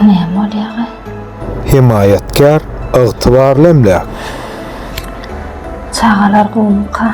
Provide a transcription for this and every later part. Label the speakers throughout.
Speaker 1: Näme bolýaga? Hemaýatkär, ygtybarly emläk. Çagalar gowumyka?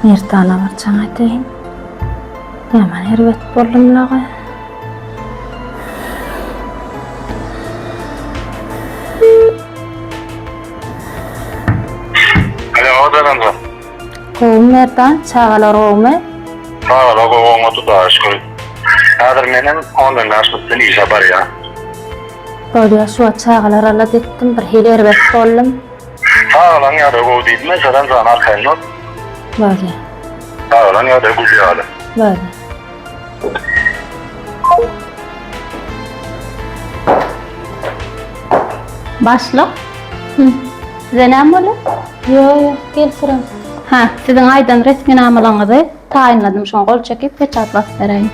Speaker 1: Merdana bir jaň edeýin. Ýaman erbet boldumlaga. Alo, Odaganjan. Gowmy Merdan, çagalar gowmy? Çagalar gowmy Hudaýa şükür. Häzir menem ondan daşda bilen işe barýan. Bolýa şu wagt çagalar alat etdim bir hili erbet boldum. Çagalaň ýagdaýy gowy diýdiňmi Saran jany arkaýyndan. Bolýa. Çagalaň ýagdaýy gül ýaly. Bolýa. Başlyk. Hı. Size näme bolýar? Ýok, ýok, gel syram. Ha, siziň aýdan resminamalaryňyzy taýynladym, şoňa gol çekip peçat basyp beräýiň.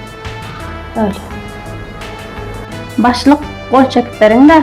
Speaker 1: Böle. Başlyk, gol çekip beriň-de.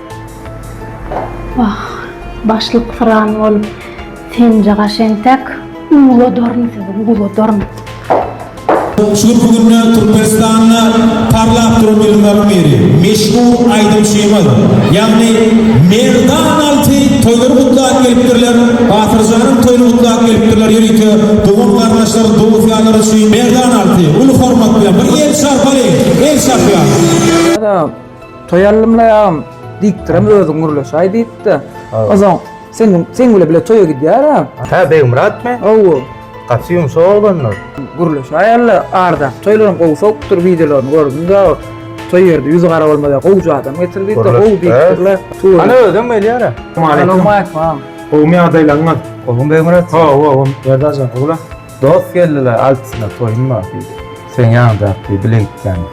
Speaker 1: Wah, başlyk pyran bolup, senje gaş entek, ugladaryn sizi, ugladaryn! Şu günler Türkmenistanda parlap duran ýylyň akmeri, meşhur aýdymçymyz, ýagny Merdan Alty toýlary gutlap gelipdirler, Batyrjanyň toýuny gutlap gelipdirler, ýörite dogan-garyndaşlar, dost-ýarlar üçin Merdan Alty uly hormat bilen bir el çarpaly, el çarpýarys. Toý allymlaý agam, diýipdirem özüň gürleşäý diýipdi. Ozon sen sen bile bile toýa gidýära. Hä, Begmyratmy? Hawa. Gaty ýumşak oglanlar. Gürleşäý alla, ardaky toýlaram gowy sowupdyr, wideolaryny gördüm da. Toý ýerde ýüzi gara bolmaly gowja adam getir diýip, gowy diýipdirler. Hany özem gelýära. Salam agam. Gowmy ýagdaýlaryňyz? Gowmy Begmyrat? Hawa, gowum. Berdajan, gowla. Dost geldiler altysyna toýum bar diýdi. Seň ýaňjak diýdi bile gitýändi.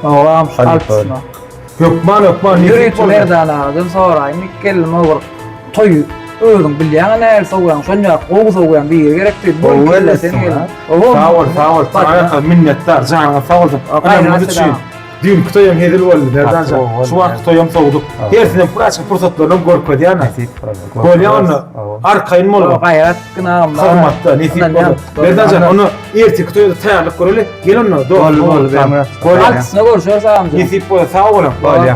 Speaker 1: Ogam şu altysyna. Hökman hökman nesip bolsun. Ýöri şu Merdan agadan soraýyn iki gelnim ogurk toýy özüň bilýäňä nähili sowýaň şonýak gowy sowýaň biri gerek diýdi. Bu iki gelin sen gelin. Sag bol sag bol saňa ýa minnetdar janyňyz sag bolsun. Ynamyňyz üçin. Düýnki toýam hezil boldy Merdanjan. Şu wagtky toýam sowduk. Hersinem praçyk pursatlaryny görkezýän. Nesip boldy. Bolýa onda. Arkaýyn bol. Gaýrat gynam. Hormatda nesip boldy. Merdanjan, onda erteki toýa taýýarlyk göreli. Gel onda. Boldy, boldy. Bolýa. Altysyna görüşeris agam. Nesip bolsa sag boluň. Bolýa.